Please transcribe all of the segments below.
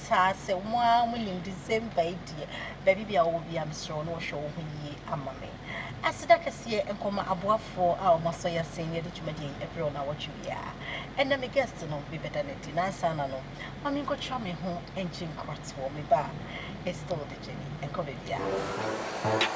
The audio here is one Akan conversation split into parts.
Taa sɛ mo ara mo nim December yi deɛ baabi biara wowɔ biara mesrɛ wo na wɔhwɛ wo ho yie ama me. Aseda kɛseɛ nkɔ ma aboafoɔ a wɔn asɔ yɛn asen na yɛde dwumadie yi ɛbrɛ wɔn awɔtwe biara. Ɛnnɛ me guest no me bɛda no adi na ansa na no ma me nkɔtwa me ho ngye nkoratoɔ me ba a it's still the journey ɛnkɔ baabiara.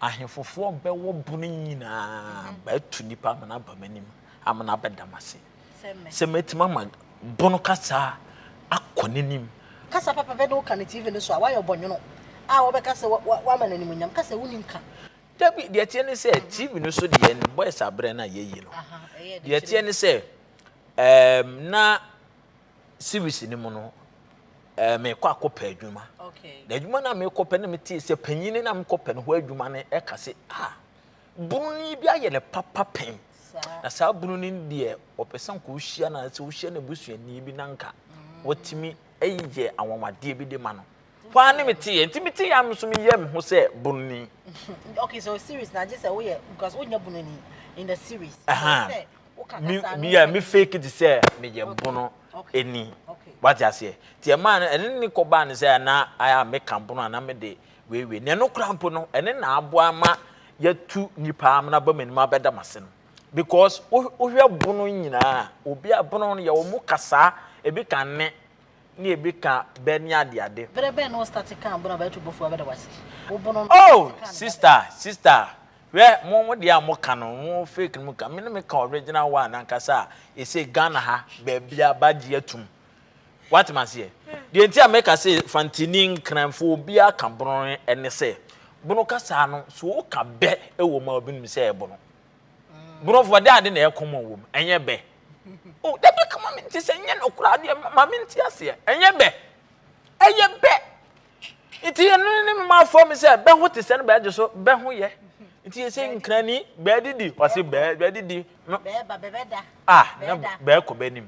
Ahefofoɔ bɛwɔ bone nyinaa mhm. bɛatu nnipa amena aba m'anim amena abɛda m'ase sɛ mɛtumi ama bono kasa akɔ n'anim kasa papa bɛ ne wo ka ne tv no so a woayɛ ɔbɔnwono a wɔbɛka sɛ woama no animonyam ka sɛ wonim ka dabi deɛ teɛ ne sɛ mhm. tv no so deɛ no boys aberɛ no a yɛyi no deɛ teɛ ne sɛ na series no mu no ɛɛ mekɔ akɔpɛ adwuma na adwuma no a mekɔpɛ no metee sɛ panyin no a mekɔpɛ no hɔ adwuma no ɛka sɛ a bununi bi ayɛ ne papa pɛn na saa bununi no deɛ ɔpɛ sɛ nka wohyia no sɛ wohyia no abusuani bi na nka watumi yɛ anwanwadeɛ bi de ma no hɔ a ne meteɛ nti meteɛ a me so meyɛ me ho sɛ bununi okay so series na gye sɛ woyɛ because wonya bununi in the series uh -huh. me me yɛ me fake it sɛ me yɛ bono ɛni wate aseɛ ti ɛma no ɛne ne kɔ baa ne sɛ na ayɛ a me ka bono ana me de weiwei na ɛno kora mpo no ɛne na aboa ma yɛtu nipa amena ba m'anim abɛda m ase no because wohwɛ bono nyinaa obi a bono no yɛ wɔn kasaa ebi ka ne ne ebi ka bɛ ne ade ade. bere bɛn na ɔstati kan bono abɛyɛ tubɔfo abɛda wase wo bono no. oh sista sista Hwɛ mo mo deɛ a mo ka no mo fake no mo ka me no me ka original one nankasa a ɛsɛ Ghana ha baabiara ba gye atum wate maseɛ deɛ nti a meka se fantini nkranfo obiara ka bono ɛne sɛ bono kasaa no so wo ka bɛ ɛwɔ mu a obi nim sɛ ɛbono bonofoɔ de ade na ɛyɛ kɔmɔ wɔ mu ɛnyɛ bɛ o oh, dabi kama me nti sɛ nyɛ no koraa deɛ ma me nti aseɛ ɛnyɛ bɛ ɛyɛ bɛ Nti ɛno ne mma fam sɛ bɛho te sɛ no bɛgye so bɛho yɛ. Nti yɛsɛ nkrani bɛadidi ɔse bɛadidi no. Bɛɛba bɛbɛda. Ah na bɛɛkɔ bɛnim.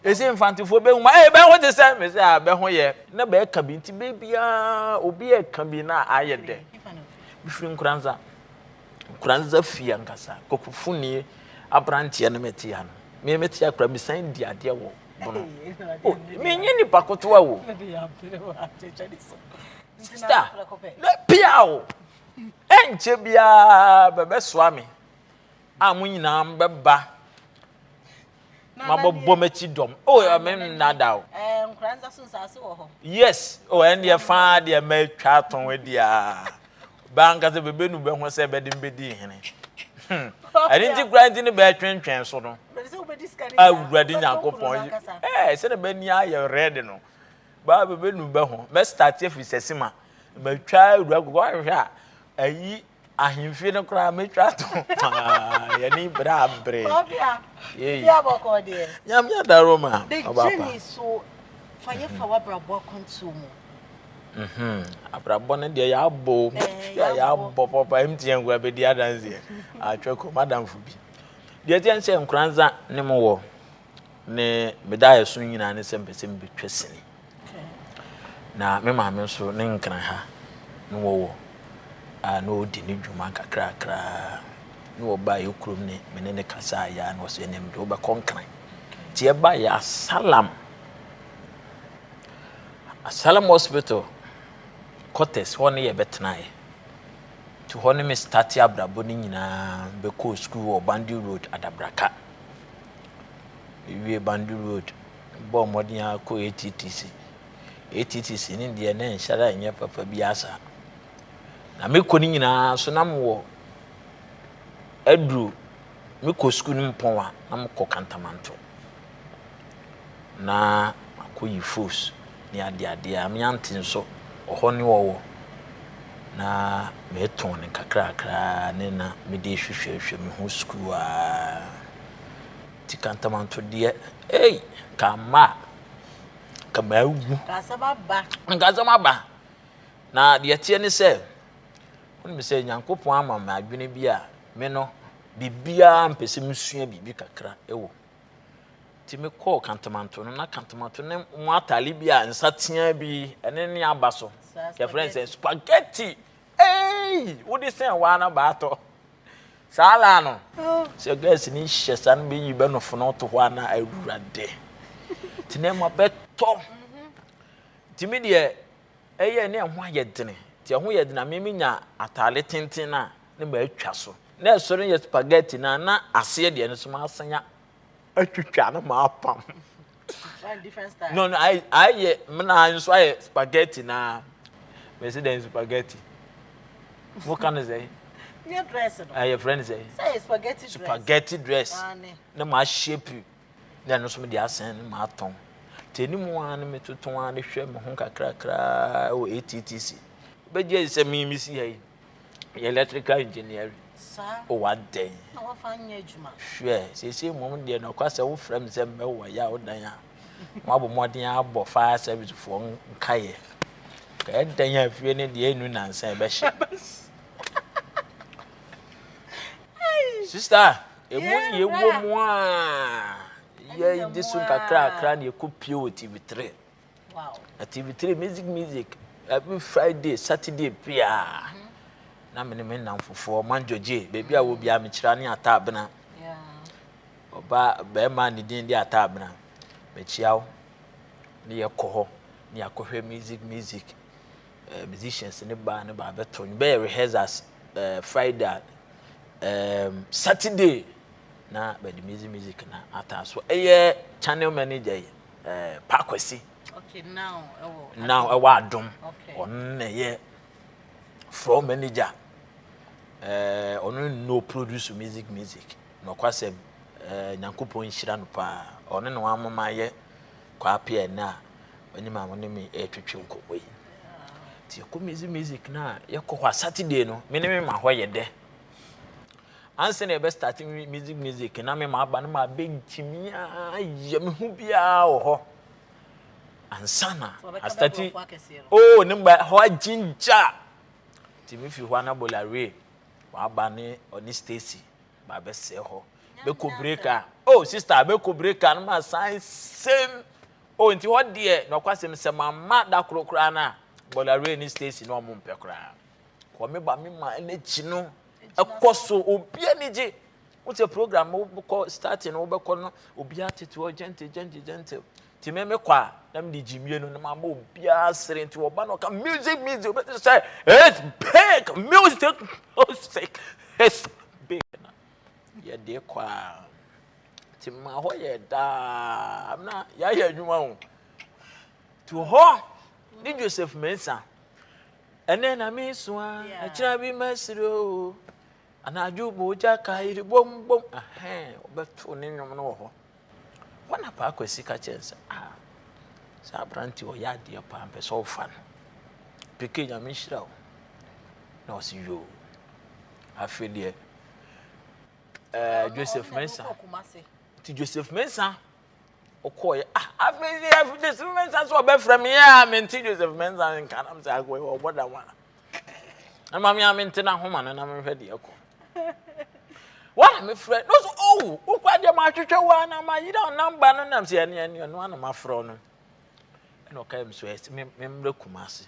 Ɛsɛ mfantefoɔ bɛhu ma ɛyɛ bɛho te sɛ me sɛ a bɛho yɛ. Na bɛɛka bi nti bɛbiaa obi ɛka bi na ayɛ dɛ. Mefiri nkuranza. Nkuranza fie ankasa kɔkɔfunie abranteɛ no mete ano. Me mete akora mesan di adeɛ wɔ Oh, menye ne ba kotoa o. Sista, na pia o. Ɛnkyɛ biara bɛbɛsoa me. A mo nyinaa mbɛba. Mabɔbɔ m'akyi dɔm. Oh, ɛmɛ nnada o. Yes, oh, ɛndeɛ faa deɛ mɛtwa atɔn deɛ. Bɛanka sɛ bɛbɛnu bɛ ho sɛ bɛde me bɛdii hene. Hmm. Ɛne nti kura nti ne bɛtwentwɛn so no. Awurade Nyankopɔn. Ɛɛ sɛ na bɛni ayɛ rɛde no. Baa bɛbɛnu bɛ ho. Mɛstate afiri sɛ sima. Mɛtwa awura koko ahwehwɛ a. Ayi ahemfie no koraa mɛtwa ato. Yɛne berɛ abrɛ. Nyame adaroma. Ɔbaapa. Fa yɛ fa wabrabɔ akwantuo mu. Mm-hmm. Abrabɔ no deɛ yɛabɔ o. Eh, yeah, yɛabɔ papa ɛm ti yɛn nkura bɛdi adanseɛ. Atwɛ kɔ madamfo bi. Deɛ ɛteɛ sɛ nkoranza ne mo wɔ ne meda ɛso nyinaa ne sɛ mpɛ sɛ mbɛtwa sini. Na me maame nso ne nkran ha ne wɔwɔ a na ɔdi ne dwuma kakrakra ne wɔba yɛ kurom ne me ne ne kasa a yɛa na ɔsɛ ɛnɛ mede wobɛkɔ nkran. Nti ɛba yɛ asalam. Asylum hospital quarters hɔ ne yɛbɛtenaeɛ. Nti hɔ ne me starte abrabɔ no nyinaa bɛkɔɔ sukuu wɔ Bandi Road Adabraka. Mewie Bandi Road bɔɔ mmɔden ara kɔ ATTC. ATTC ne deɛ na ɛnhyɛ da nyɛ papa bi asa. Na mekɔ no nyinaa so na mewɔ aduru mekɔ sukuu no mpɔn a na mekɔ kantamanto. na makɔ yi fos ne ade adeɛ a meante nso ɔhɔ ne ɔwɔ na metɔn ne kakrakra ne na mede hwehwɛhwɛ me ho sukuu a ti kantamanto deɛ ei kama a kama awu nkasɛm aba na deɛ teɛ ne sɛ wonim sɛ nyankopɔn ama me adwene bi a me no biribiara mpɛ sɛ mesua biribi kakra ɛwɔ Nti me kɔɔ kantomanto no na kantomanto ne mu atare bi a nsa teaa bi ɛne ne aba so yɛfrɛ sɛ spaghetti ei wode sɛn waa na baatɔ saa laa no oh. sɛ gas ne hyɛ saa no bɛyi bɛnofo no to hɔ a na awurade nti na ɛma bɛtɔ nti me deɛ ɛyɛ na ɛho ayɛ den nti ɛho yɛ den a me menya ataade tenten no a na matwa so na ɛsɔre no yɛ spaghetti na na aseɛ deɛ no so masan atwitwa na mapam no no ayɛ mena nso ayɛ spaghetti na mɛsi dɛn spaghetti moka no sɛ ɛyɛ frɛ no sɛ spaghetti dress na mahyɛ piri Na ɛno nso mede asɛn no m'atɔn. Nti anim ara no metoto ara de hwɛ me ho kakrakraa wɔ ATTC. Bɛgye adi sɛ me mesi ha yi yɛ electrical engineering. O wa dɛn? Na wafa nyɛ adwuma. Hwɛ, seesei mmom deɛ nɔkwa sɛ wofrɛ me sɛ mmɛwɔ yɛ a wodan a, moabɔ mmɔden abɔ fire service foɔ nkaeɛ. Ka ɛdɛn a fie no deɛ ɛnu nansa ɛbɛhyɛ. Sister, Emu yɛ wɔ mu a yɛn de so nkakrakra na yɛkɔ pie wɔ TV three. Na TV three music music every Friday Saturday biara. Mhm. Na me ne me nnamfofoɔ man gyɔgye baabi a wɔ biara mekyerɛ ne ataabena. Ɔbaa bɛrima ne din de ataabena mekyia wo ne yɛkɔ hɔ ne yɛakɔhwɛ music music. eh, musicians ne baa ne baa bɛtɔ no bɛyɛ rehearsals eh, friday eh, saturday na bɛde music music na ataa so ɛyɛ channel manager yi eh, pakwasi okay, now ɛwɔ adom ɔno na ɛyɛ floor manager eh, ɔno no produce music music nɔkwasɛm eh, nyankopɔn nhyira no paa ɔno na wamama yɛ Kwaape a ɛnnɛ a ɔne ma wɔne me retwetwe nkɔmmɔ yi. Nti yɛkɔ music music no a yɛkɔ hɔ a Saturday no me ne me ma hɔ yɛ dɛ. Ansa na yɛbɛ start music music na me ma aba no ma abɛntumi ayɛ me ho biara wɔ hɔ. Ansa na astati oo ne mba hɔ agyingya. Nti me fi hɔ a na Bolarie waba ne ɔne Stacy ma bɛsɛ hɔ bɛkɔ break a oh sister bɛkɔ break a no ma san sɛm oh nti hɔ deɛ na ɔkwa sɛm sɛ mama da koro koraa no a bɔlare ne station na ɔmo mpɛ koraa kɔ me ba me ma ɛnɛkyi no ɛkɔ so obi ani gye wosɛ program wobɛkɔ starting wobɛkɔ no obi atete hɔ gentle gentle gentle Nti me me kɔ a na me de gyimie no na ma ma obiara sere nti ɔba na ɔka music music obi te sɛ it's big music music it's big na yɛ de kɔ a ti ma hɔ yɛ daa na yɛayɛ adwuma ho to hɔ ne Joseph Mensah ɛnɛ na mesua ɛkyerɛ bi masiri o Anadwo bɔ ogya ka ayiri bom bom ahɛn wɔbɛtow ne nnwom no wɔ hɔ. Hɔ na Paa Kwasi ka kyerɛ no sɛ, Ah, saa aberante ɔyɛ adeɛ paa mpɛ sɛ ɔfa no. Peke Nyame nhyira wo. Na ɔse yoo. Afei deɛ eh, Joseph Mensah. Nti Joseph Mensah ɔkɔɔeɛ ah afei sɛ yɛfiri de sɛ mɛnsa so ɔbɛfrɛ me yɛ a mente joseph mɛnsa nka nam sɛ akɔɛ ɔbɔ da ho a ɛma me a mente no ahoma no na menhwɛ deɛ ɛkɔ wana mefrɛ no so oh wokora deɛ mahwehwɛ wo a na mayera namba no nam sɛ ɛne ɛne ɛno ana mafrɛ no ɛna ɔkae me so ɛsɛ memmerɛ kuma ase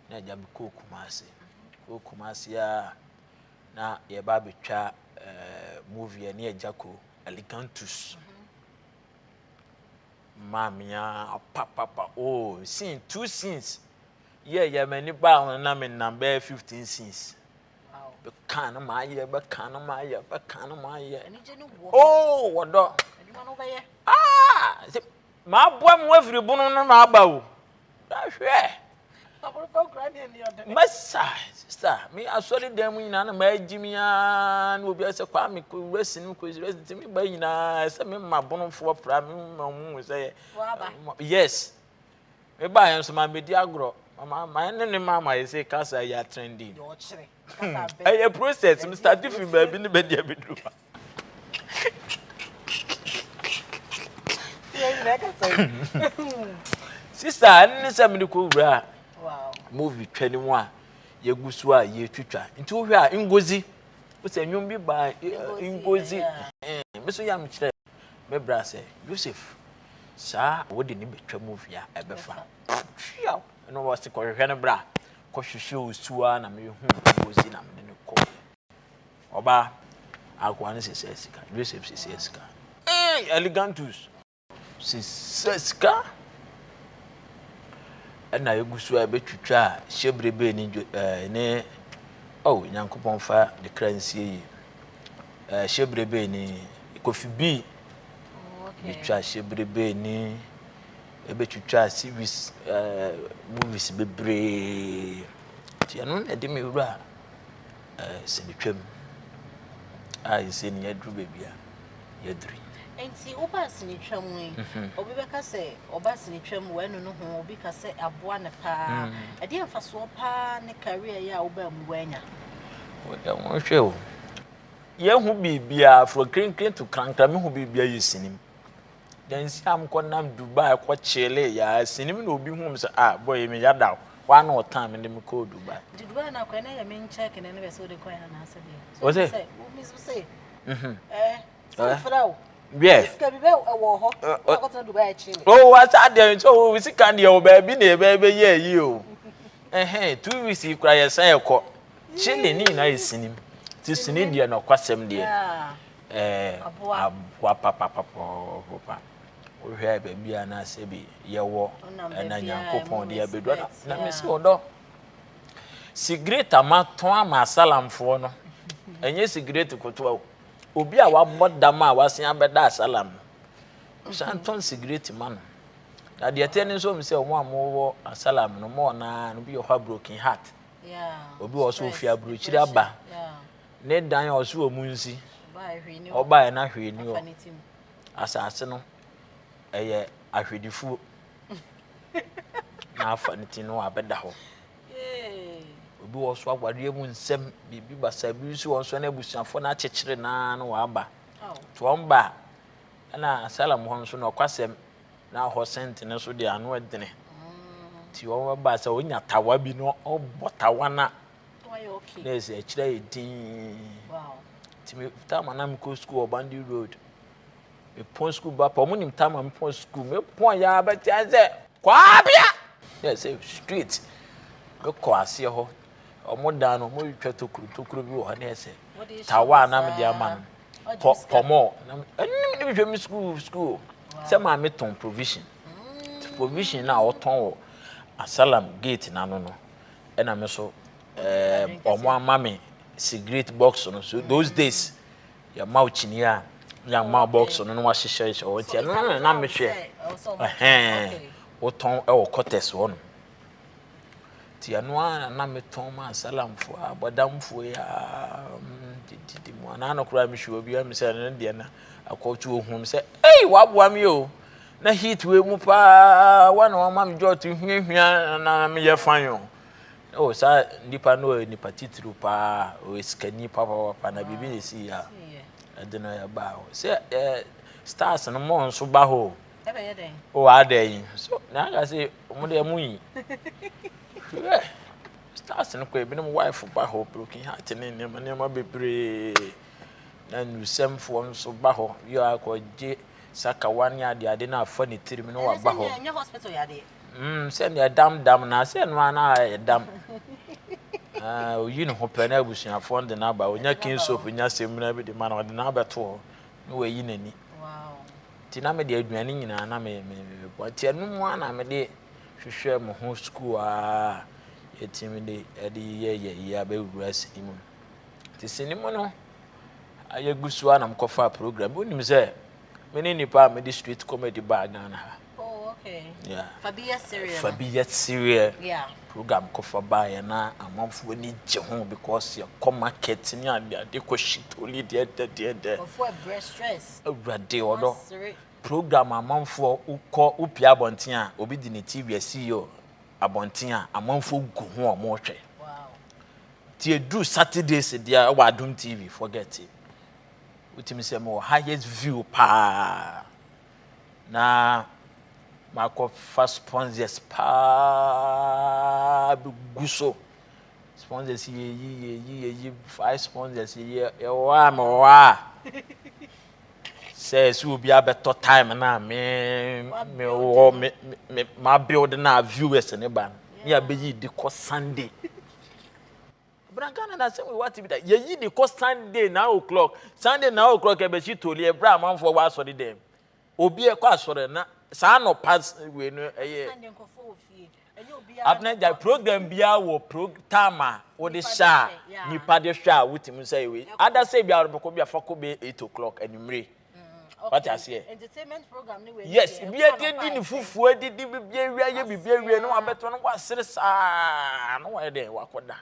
na agya mekɔɔ kuma ase kɔɔ kuma ase a na yɛba abɛtwa eh, movie ne agya ko alicantus maa mea papapa o oh, scene two scenes yɛ yɛ m'ani baa ho na menam bɛyɛ fifteen scenes bɛka no maayɛ bɛka no maayɛ bɛka no maayɛ o oh, wɔdɔ ah Maboa mo afiri bono no na aba o. Hwɛ! Mɛsa, sista, me asɔre dan mu nyinaa na magye me ara na obiara sɛ kwaa me kɔ resi no kɔ resi nti me ba nyinaa sɛ me ma bonofoɔ pra me ma mu sɛ yes me ba yɛn nso ma medi agorɔ my ne ne mama yɛ sɛ kasa yɛ atrɛndi ɛyɛ process me start fi baabi ne bɛdi abɛduru sista ɛno ne sɛ mede kɔwura movie twa no mu a yɛgu so a yɛtwitwa nti wohwɛ a ngozi wosɛ nnwom bi baa ngozi me so yam kyerɛ me bra sɛ yosef saa wode ne bɛtwa movie a ɛbɛfa twiaw ɛno wɔse kɔhwehwɛ no bra kɔhwehwɛ osuo a na mehu ngozi na mede no kɔ Ɔbaa, akoa no sesaa sika. Joseph sesaa sika. Hey, Elegantus! Sesaa sika. Ɛna egu so a ɛbɛtwitwa a hyɛbrebe ne ɛɛ ne oh Nyankopɔn fa ne kra nsie yi. Ɛɛ hyɛbrebe ne kofi bi. Betwa hyɛbrebe ne ɛbɛtwitwa series ɛɛ movies bebree. Tiɛ no na ɛde me wura. Sɛ metwa mu a, ɛsɛ sɛ nea aduru baabi a yɛaduru yi. Nti woba asenetwa mu yi, obi bɛka sɛ ɔba asenetwa mu wɛnu no ho, obi ka sɛ aboa no paa. Ɛdeɛ mfasoɔ paa ne career yi a wobaa mu wanya? Hwɛ o, yɛhu biribiara from krinkrin to krankra, mehu biribiara yɛ sini mu. Dansi a mokɔ nam Dubai kɔ kyele yaa sini mi na obi hu mi sɛ ah boy yi me yada o wa na ɔtan mi de me kɔɔ Dubai. Nti Dubai na kɔ na yɛ me nkyɛk na ne bɛ sɛ ɔde kɔ yɛ na asɛ deɛ. O se. Sɛ o mi so se. Mhm. Eh. Sɛ mfra o. Yes. Sika bi bɛ wɔ hɔ. O akɔ tena Dubai akyi mi. O wa sa deɛ nso o sika deɛ o baabi na ebe ebe yɛ yi o. Ɛhɛn two weeks yi kura yɛ san yɛ kɔ. Chile ni na yɛ sini mi. Ti sini deɛ na ɔkɔ asɛm deɛ. Ɛɛ, aboa papapapapapa. Wohwɛ a baabi a na sɛbi yɛwɔ ɛna Nyankopɔn de abɛdua no, na me sɛ ɔdɔ. Sigaret a matɔn ama asalamfoɔ no, ɛnyɛ sigaret kotoa o. Obi a wabɔ dam a wasen abɛda asalam no, wosan tɔn sigaret ma no. Na deɛ ɛteɛ ne nso mu sɛ wɔn a wɔwɔ asalam no, wɔn a wɔn no bi wɔ hɔ a broken heart. Obi wɔ so ofi aburokyiri aba. Ne dan a ɔso wɔ mu nsi. Ɔbaeɛ na hwee ni hɔ. Asase no ɛyɛ ahwedifuo. Na afa ne ti no abɛda hɔ. Obi wɔ so awadeɛ mu nsɛm biribi basa bi nso wɔn so na abusuafoɔ no akyekyere naa na wɔaba. To wɔn ba a ɛna asalam hɔ nso na ɔkwasɛm na hɔ sɛnte no so deɛ ano ɛdene. Ti wɔn ba sɛ ɔnya tawa bi na ɔbɔ tawa na nurse ɛkyerɛ yɛ dinn nti me taama na mekɔ sukuu wɔ bandi road mepɔn sukuu ba pa ɔmo nim taama mepɔn sukuu mepɔn yɛ abɛte sɛ kwaabea yɛ sɛ street mekɔ aseɛ hɔ ɔmo dan no ɔmo retwa tokuro tokuro bi wɔ hɔ ne ɛsɛ tawa na mede ama no pɔ pɔmɔ na ɛnim ne mehwɛ me sukuu sukuu sɛ maame tɔn provision provision na ɔtɔn wɔ asalam gate n'ano no. ɛna me so ɛɛ wɔn ama me cigarette box no so those days yɛma wo kyini a yɛama wo box no na wahyehyɛ hyɛ wɔn ti ɛno na na me hwɛ ɛhɛn wotɔn ɛwɔ kɔtɛs hɔ no ti ɛno a na me tɔn ma asalamfo a bɔdamfo yi a didi mu anaa no koraa me hwɛ obi a me sɛ ɛno deɛ na akɔtu ohun sɛ ɛyi waboa me o Na heat wei mu paa wa na wɔma me jot hwiahwia na meyɛ fine o oh saa nipa no ɔyɛ nipa titiriw paa ɔyɛ sikani papapapa na biribi na ɛsi yɛ a ɛde no ɛbaa hɔ sɛ eh, stars no mo nso ba hɔ o ɛbɛyɛ dɛn o ada yi so na aka sɛ ɔmo deɛ mo yi hwɛ stars no kɔ ebinom wife ba hɔ broken heart ne nneɛma nneɛma bebree na nusɛmfoɔ nso ba hɔ yɛ akɔgye sakawa ne adeade no afa ne tirim na waba hɔ mm, sɛnea ɛdam dam na sɛ ɛno ara na ɛdam ah, oyi ne ho pɛ na abusuafoɔ no de no aba ɔnya kin soap nya semina bi de ma na ɔde no abɛto hɔ na wayi n'ani nti na mede aduane nyinaa na mebɔ nti ɛno mu a na mede hwehwɛ mo ho sukuu a yɛtumi de ɛde yɛyɛ yi abɛwura sini mu Nti sini mu no, ayɛ gu so a na mekɔfaa program bi. Wonim sɛ me ne nnipa a mede street comedy baa Ghana ha. Oh, okay. Yeah. Fa bi yɛ sereɛ. Fa bi yɛ sereɛ. Yeah. Program kɔfa baeɛ na amanfoɔ ani gye ho because yɛkɔ market ne adeade kɔ shitoli deɛ dɛ deɛ dɛ. Wɔfoɔ ɛbrɛ stress. Awurade ɔdɔ. Program amanfoɔ wokɔ wopia abɔnten a obi de ne TV asi yɛ abɔnten a amanfoɔ gu ho a wɔrehwɛ. Wow. Nti ɛduru Saturdays deɛ ɛwɔ Adom TV forget it. Wotumi sɛ mewɔ highest view paa na makɔfa sponsors paa bɛgu so sponsors yɛyi yɛyi yɛyi five sponsors yɛyi ɛwɔ a mewɔ a sɛ sɛ obi abɛtɔ time no a me mewɔ me me ma build no a viewers ne ba no ne abɛyi de kɔ sunday Bra Ghana na asɛm wɔ ate bi da. Yɛyi de kɔ Sunday nine o'clock. Sunday nine o'clock ɛbɛsi toli ɛbrɛ amanfoɔ wɔ asɔre dɛm. Obi ɛkɔ asɔre na saa nɔpa wei no ɛyɛ. Abena gya program biara wɔ pro time a wɔde hyɛ a nipa de hwɛ a wotumi sɛ wei. Adasɛ biara bɛkɔ bi afa kɔ bɛ eight o'clock anumere. Eh, wate aseɛ yes bia deɛ di ne fufuo adidi bibia awia yɛ bibia awia na wabɛtɔ no wasere saa na wayɛ dɛn wakɔda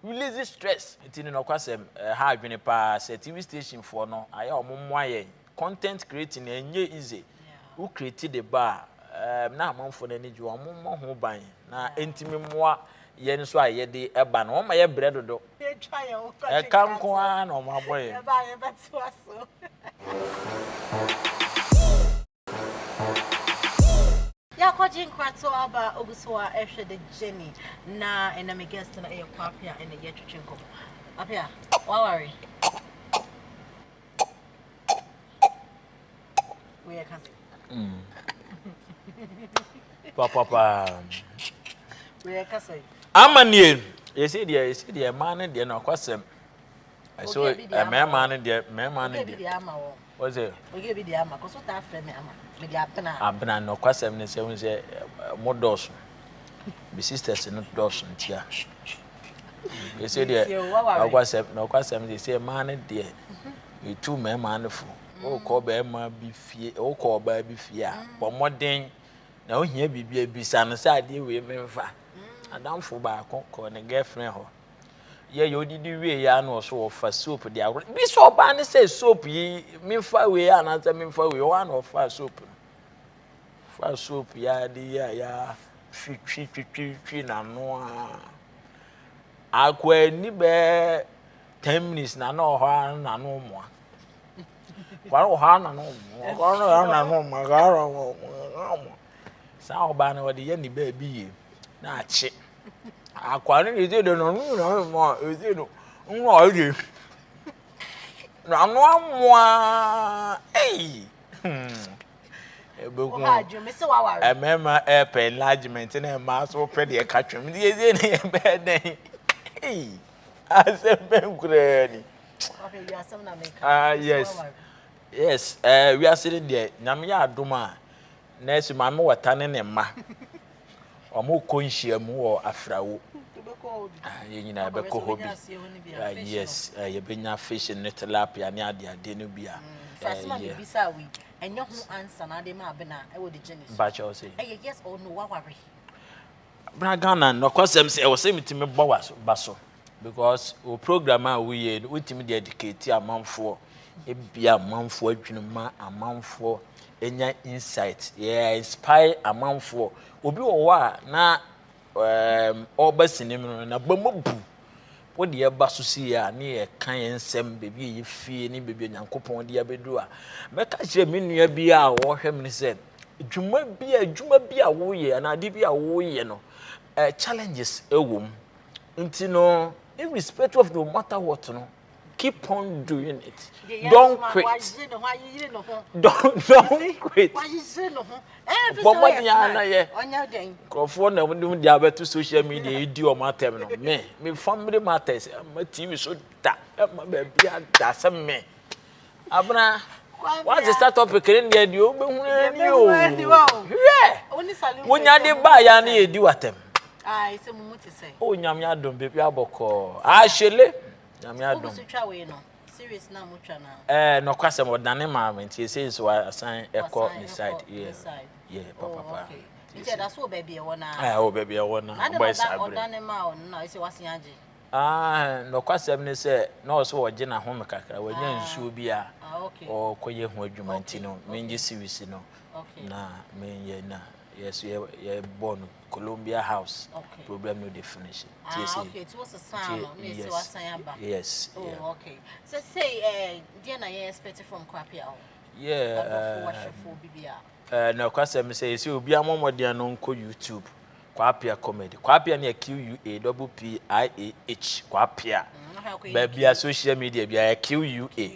release stress nti no nɔkwasɛm ɛha eh, adwene paa sɛ tv station foɔ no ayɛ ɔmo mmoa yɛn content creating ɛnyɛ easy wo create de ba a eh, na amanfoɔ no ani gye ɔmo mmɔ ho ban na ɛntumi mmoa yɛn nso a yɛde ba no, wɔma yɛ brɛ dodo. Ɛka nko ara na wɔn abɔ yɛn. Yɛakɔgye nkrato aba ogu so a ɛhwɛ de Jenny na ɛna me guest no ɛyɛ Kwapea ɛna yɛtwetwe nkɔmɔ. Apea, waware? ama nie yɛsɛ deɛ yɛsɛ deɛ mmaa no deɛ no ɔkwasɛm ɛsɛ mmarima no deɛ mmarima no deɛ wɔsɛ abena no ɔkwasɛm no sɛ wɔn sɛ mo dɔɔso bi sisters no dɔɔso ntia. ɛsɛ deɛ ɔkwasɛm na ɔkwasɛm deɛ sɛ mmaa no deɛ etu mmarima no fo ɔkɔ barima bi fie ɔkɔ ɔbaa bi fie a bɔ mmɔden na ohia biribi abisa no sɛ adeɛ wei memfa adamfo baako kɔ ne girlfriend hɔ yɛ yɛ odidi wie yɛ ano ɔso ɔfa soap de agorɔ bi sɛ ɔbaa no sɛ soap yi memfa wei anaasɛ memfa wei ɔwɔ ano ɔfa soap no. Fa soap yi ara de yi a ya twitwi twitwi twitwi n'ano a. Akoa ni bɛɛ ten minutes na na ɔhɔ ara n'ano mmoa. Kwara ɔhɔ ara n'ano mmoa. Ɔhɔ ara n'ano mmoa. Ɔhɔ ara n'ano mmoa. Saa ɔbaa no ɔde yɛ ne baabi yie na akye. Akoa no de de n'ano nyinaa mmoa. Ɛsɛ no nwa ɔyɛ. N'ano amoa. Ei. Hmm. ɛbɛku mmarima ɛpɛ enlargement na mmaa nso pɛ deɛ ɛka twam deɛ ɛdie ne yɛ bɛyɛ dɛn asɛm bɛn koraa ni ah yes yes ɛɛ eh, wiase no deɛ nyame yɛ adom a nɛɛsi maame wɔta ne ne mma wɔkɔ nhyiam wɔ afrawo yɛn nyinaa yɛbɛkɔ hɔ bi ah, yes eh, yɛbɛnya fish ne tilapia ne adeade no bi a bra ghana nɔkɔsɛm sɛ ɛwɔ sɛ metumi bɔ ba so because wo program a woyɛ no wotumi de educate amanfoɔ ebi amanfoɔ adwene ma amanfoɔ enya insight yɛ inspire amanfoɔ obi wɔ hɔ a na ɛɛm um, ɔba sinim no na ba mu bu wo deɛ ba so si yɛ a ne yɛ ka yɛn nsɛm beebi a yɛ fie ne beebi a nyankopɔn de abedu a mɛka kyerɛ me nua bi a ɔhwɛ me sɛ dwuma bi a adwuma bi a woyɛ anaa ade bi a woyɛ no ɛɛ eh, challenges ɛwɔ mu. nti no irrespective of no matter what no keep on doing it don't quit don't don't quit bɔbɔ ni ana yɛ nkurɔfoɔ na wɔn de abɛto social media yi di wɔn atɛm no me me family matters ɛma tv so da ɛma baabi ada sɛ me. Abena, woadze star topic no ndeɛ deɛ wobɛhunu ani o. Hwɛ! Wonya de baa yɛ ne yɛdi watam. O nyame adom baabi abɔkɔɔ. Ahyele. Nyame adom. Eh, nɔkwasɛm ɔdane maame nti ɛsɛ nso asan ɛkɔ ne side. Yeah. Yeah, papa oh, papa. Nti ɛda so wɔ baabi ɛwɔ naa. Ɛwɔ baabi ɛwɔ naa. Ɔbɔ ɛsa abere. Ɔdane ma ɔno na ɛsɛ wasen agye. Aah nokwasɛm ne sɛ na ɔwɔ sɛ ɔgye n'ahome kakra, wanya nsuo bi a ɔkɔyɛ ho adwuma nti no mengye series no na menyɛ na yɛ so yɛbɔ no Columbia House program no de finish nti ɛsɛ nti yes yes yeah. okay so say eh, deɛ na yɛ expect from kwapi a yeah ɔbɔfo wɔhwɛfoɔ bi bi a nokwasɛm sɛ ɛsɛ obi amɔmmɔden no nkɔ YouTube Kwapea comedy Kwapea ne yɛ QUA double PIAH Kwapea baabi a social media bi a yɛ QUA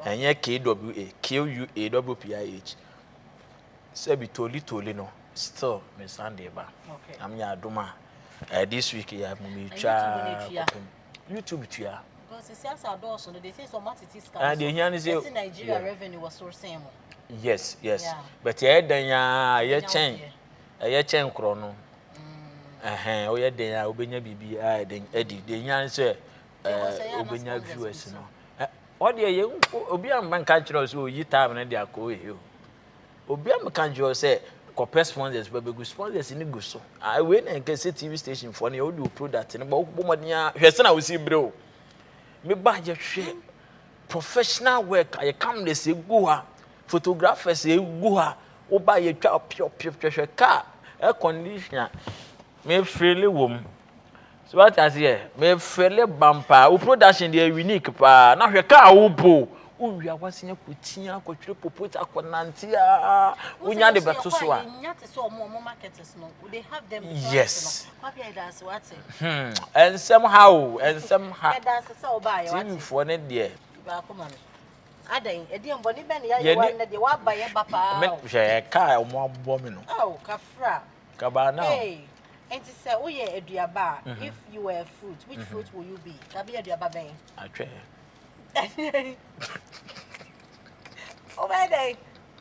ɛnyɛ KWA QUA double PIAH sɛbi toli toli no still me san de ba am yɛ adom a eh, this week yɛ mo me twa kɔpem YouTube tua ah, deɛ hia ne sɛ yes yes but yɛyɛ dan a yɛkyɛn ɛyɛ kyɛn korɔ no ɛhɛn woyɛ den a wobɛnya biribi a ɛden adi deɛ nya ne sɛ wobɛnya viewers no ɔdeɛ yɛ obi a mɛnka nkyerɛ wo sɛ ɔyi time no de akɔ ɔyɛ o obi a mɛka nkyerɛ wo sɛ kɔpɛ sponsors bɛbɛgu sponsors no gu so wei na ɛnkɛ sɛ tv station foɔ no yɛ wode wo product no ba wokɔbɔ mmɔden a hwɛ sɛ na wosi berɛ o meba yɛhwɛ professional work a yɛkam de sɛ gu hɔ a Photographers a egu ha wo ba yɛ twa pio pio hwɛhwɛ car air condition a me feel wɔ mu so what I say eh, me feel bam paa wo production deɛ unique paa na hwɛ car wo po wo wia wasen akɔ tia akɔ twere popot akɔ nante a wo nya de bɛto so a yes hmm ɛnsɛm ha o ɛnsɛm ha tv foɔ ne deɛ. Adɛn? Ɛdeɛn bɔne bɛn na yɛayɛ Yɛne- wo a nnɛ deɛ woaba yɛ ba paa Me- o? hwɛ ɛka a ɔmo abobɔ me no Ao, kafra. kabaa na Hey, enti sɛ woyɛ aduaba a, if you were a fruit, which fruit will you be? Ka bɛyɛ aduaba bɛn? atwɛ Wobɛyɛ dɛn?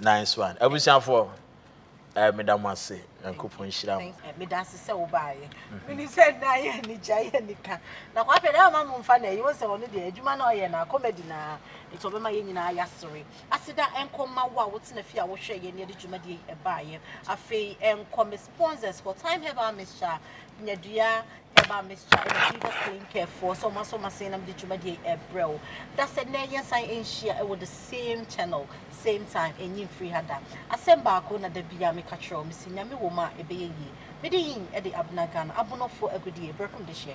Nice one. Abusuafoɔ, eh, meda mo ase. Nyankopɔn nhyira mo. Eh, meda ase sɛ wobaeɛ. Mhm. Menim sɛ nna yɛ anigya yɛ anika. Na kwapɛ dɛ ama mo mfa na ɛyi wo sɛ ɔno deɛ adwuma na ɔyɛ na comedy na nti ɔbɛma yɛn nyinaa yɛasere. Aseda ɛnkɔ ma wo a wotena fie a wohwɛ yɛn ne yɛde dwumadie yi ɛbaeɛ. Afei ɛnkɔ Miss sponsors for time herbal mixture nyadua herbal mixture ɛna fever clean care foɔ sɛ ɔma so ɔma sɛn nam de dwumadie ɛbrɛ wo da sɛ nnɛ yɛn san nhyia ɛwɔ the same channel same time ɛnyi mfiri ha da asɛm baako na da bia meka kyerɛ wo mesi nyame wɔ mu a ɛbɛyɛ yie mede yin ɛde abena ghana abonɔfoɔ agodie brɛkom de hyɛ